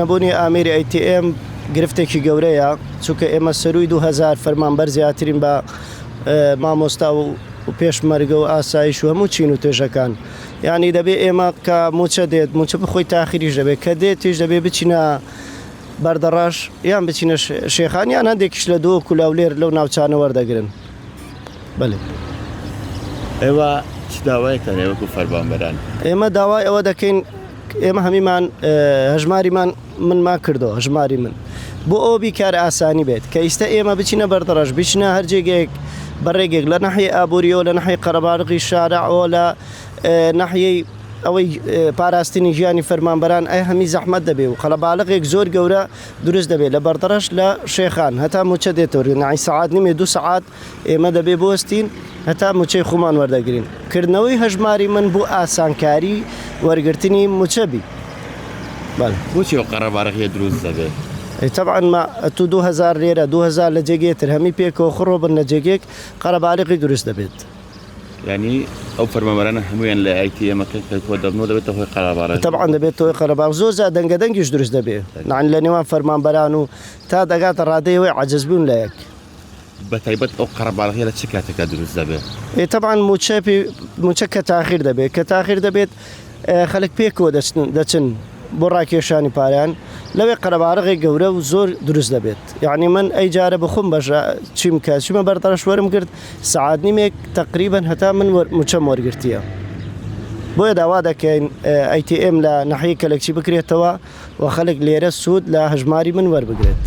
نەبوونی ئامێری ئەی تی ئێم گرفتێکی گەورەیە، چونکە ئێمە سەرووی دوو هەزار فەرمانبەر زیاترین بە مامۆستا و پێشمەرگە و ئاسایش و هەموو چین و توێژەکان. یانی دەبێ ئێمە کە مووچە دێت، مووچە بخۆی تاخیریش دەبێت، کە دێتیش دەبێ بچینە بەردەڕەش یان بچینە شێخان یان هەندێکیش لە دۆک و لاولێر لەو ناوچانە وەردەگرن. بەلێ. ئێوە چ داوایەکتانە وەکوو فەرمانبەران؟ ئێمە داوای ئەوە دەکەین، ئێمە هەمیمان هەژماری من من ما کردو هەژماری من بۆ ئەو بیکار ئاسانی بێت کە ئیستا ئێمە بچینە بەردەڕەش بچنە هەرجێگێک بەڕێگێک لە نەحی ئابوووریەوە لە نەحی قەرەباڵغی شارەوە لە نەحیەی ئەوەی پاراستنی ژیانی فەرمانبەران ئەی هەمی زەحمەت دەبێ و قەلەباڵغێک زۆر گەورە دروست دەبێت لە بەردەڕەش لە شێخان هەتا موچە دێتۆری نعی سەعات نیمێ دو سەعات ئێمە دەبێ بوەستین هەتا موچەی خومان وەردەگرین. کردنەوەی هەژماری من بو ئاسانکاری وەرگرتنی موچە بی. بەلێ. بوچی ئەو قەرە بارەخیە دروست دەبێ؟ ئەی تەبعەن ما ئەتو دو هەزار لێرە دو هەزار لە جێگێ تر هەمی پێکەوە خڕۆ بن لە جێگێک قەرە بارەقی دروست دەبێت. یانی ئەو فەرمانبەرانە هەمویان لە ئایتی ئێمە کە کە کۆ دەبنەوە دەبێتە هۆی قەرە بارەقی؟ تەبعەن دەبێت هۆی قەرە بارەق زۆر جار دەنگە دەنگیش دروست دەبێ لە نێوان فەرمانبەران و تا دەگاتە رادەی ئەوەی عەجز بون لە یەک. بەتایبەت ئەو قەرەباڵغیە لە چ کاتێکا دروست دەبێت؟ تەبعەن مووچە پێ مووچە کە تاخیر دەبێت کە تاخیر دەبێت خەلک پێکەوە دەچن دەچن بۆ ڕاکێشانی پارەیان لەوێ قەرەباڵغێ گەورە و زۆر دروست دەبێت یعنی من ئەی جارە بخۆم بەژە چیم کە چیمە بەردەڕەش وەرم گرت سەعات نیمێک تقریبا هەتا من وەر مووچەم وەرگرتیە بۆیە داوا دەکەین ئەی تی ئێم لە ناحیەی کەلەکچی بکرێتەوە و خەلک لێرە سود لە هەژماری من وەربگرێت.